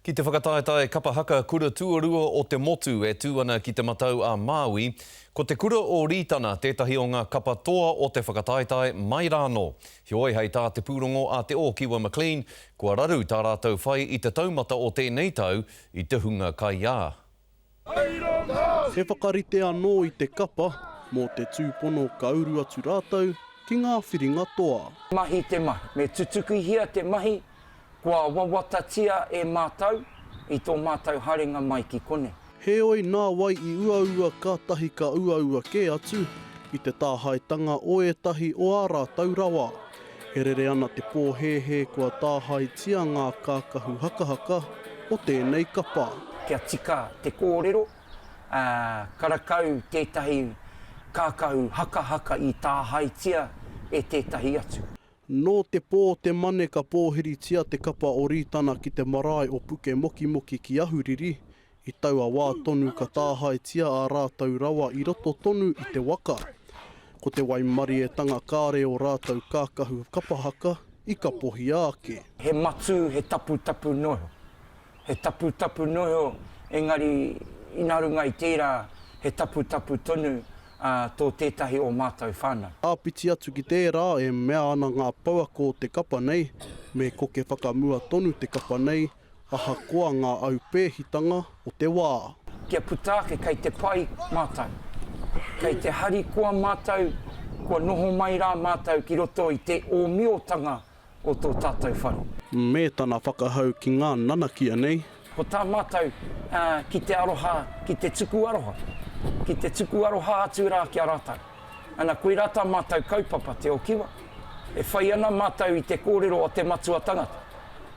Ki te whakataetae kapa haka kura tuarua o te motu e tū ana ki Te Matau-a-Māui, ko te kura o Rītana tētahi o ngā kapa toa o te whakataetae mai rānō. Heoi, hei tā te pūrongo a Te Ōkiwa McLean, kua raru tā rātou whai i te taumata o tēnei tau i te hunga kaiā. He whakarite anō i te kapa mō te tūpono ka uru atu rātou ki ngā whiringa toa. Mahi te mahi. Me tutukihia te mahi kua wawatatia e mātou i tō mātou haringa mai ki konei. Heoi, nā wai i uaua kātahi ka uaua kē atu i te tāhaetanga o ētahi o ā rātou rawa? E rere ana te pōhēhē kua tāhaetia ngā kākahu hakahaka o tēnei kapa. Kia tika te kōrero, ā, karakau tētahi kākahu hakahaka i tāhaetia e tētahi atu. Nō te pō o te Mane ka pōhiritia te kapa o Rītana ki te marae o Pukemokimoki ki Ahuriri, I taua wā tonu ka tāhaetia ā rātou rawa i roto tonu i te waka. Ko te waimarietanga kāre ō rātou kākahu kapa haka i kapohia ake. He matū, he taputapu noho. He taputapu noho, engari ina runga i tērā he taputapu tonu tō tētahi o mātou whānau. Āpiti atu ki tērā e mea ana ngā pouako o te kapa nei, me koke whakamua tonu te kapa nei, Ahakoa ngā aupēhitanga o te wā. Kia puta ake kei te pai mātou. Kei te harikoa mātou kua noho mai rā mātou ki roto i te ōmiotanga o tō tātou whare. Me tana whakahau ki ngā nanakia nei. Ko tā mātou ki te aroha, ki te tuku aroha. Ki te tuku aroha atu rā ki a rātou. Ana koirā tā mātou kaupapa Te O Kiwa, e whai ana mātou i te kōrero a te matua tangata,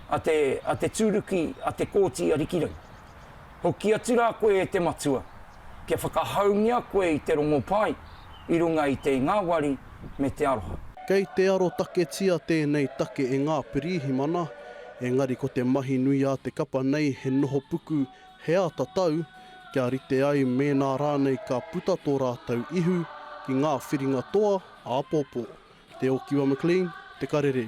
a te, a te tūruki a Te Kooti Arikirangi. Hoki atu rā koe e te matua, kia whakahaungia koe i te rongopai i runga i te ngāwari me te aroha. Kei te arotaketia tēnei take e ngā pirīhimana, engari ko te mahi nui a te kapa nei he noho puku He āta tau, kia rite ai mēnā rānei ka puta tō rātou ihu ki ngā whiringa toa āpōpō. Te Ōkiwa McLean, Te Karere.